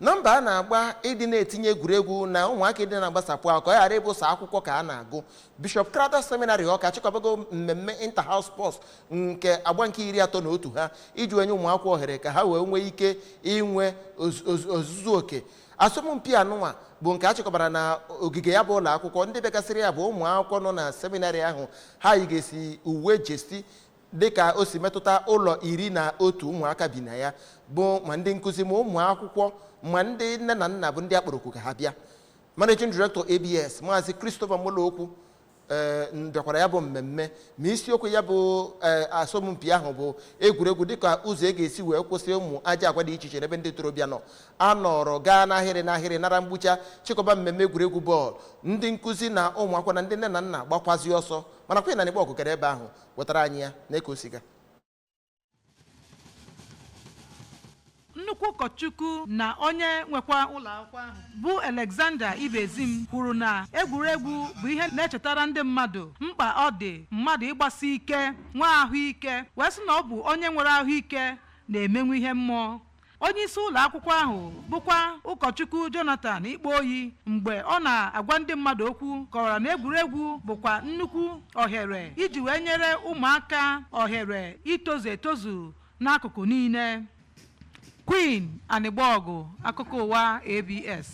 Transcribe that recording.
na mbọ a na-agba ịdị na-etinye egwuregwu na ụmụaka ịdị na-agbasapụ ahụ ka ọ ghara ịbụ sọ akwụkwọ ka a na-agụ bishọp crowther seminary ọka achịkọbago mmemme inter house sports nke agba nke iri atọ na otu ha iji wee nye ụmụakwụkwọ ohere ka ha wee nwee ike inwe oz- oz- ozuzu oke asọmpi anụnwa bụ nke a chịkọbara na ogige ya bụ ụlọ akwụkwọ ndị bịagasịrị ya bụ ụmụ akwụkwọ nọ na seminarị ahụ ha yigasị uwe jersey dịka o si metụta ụlọ iri na otu ụmụaka bi na ya bụ ma ndị nkụzi ma ụmụ akwụkwọ ma ndị nne na nna bụ ndị a kpọrọ oku ka ha bịa managing director abs maazị christopher molokwu ee bịakwara ya bụ mmemme ma isiokwu ya bụ ee, asọmpi ahụ bụ egwuregwu dịka ụzọ e ga-esi wee kwụsị ụmụ ajọ agwa dị iche iche n'ebe ndị ntorobịa nọ a nọrọ gaa n'ahịrị n'ahịrị nara mgbucha chịkọba mmemme egwuregwu bọọlụ ndị nkụzi na ụmụ akwụkwọ na ndị nne na nna gbakwazi ọsọ mana queen anịgbọgụ gara ebe ahụ wetara anyị ya na ka o si gaa nnukwu ụkọchukwu na onye nwekwa ụlọ akwụkwọ ahụ bụ Alexander Ibezim kwuru na egwuregwu bụ ihe na-echetara ndị mmadụ mkpa ọ dị mmadụ ịgbasi ike nwee ahụike wee sị na ọ bụ onye nwere ahụike na-emenwu ihe mmụọ onye isi ụlọ akwụkwọ ahụ bụkwa ụkọchukwu jonathan ikpoyi mgbe ọ na-agwa ndị mmadụ okwu kọwara na egwuregwu bụkwa nnukwu ohere iji wee nyere ụmụaka ohere itozu etozu n'akụkụ niile queen anịgbọgụ akụkọ ụwa abs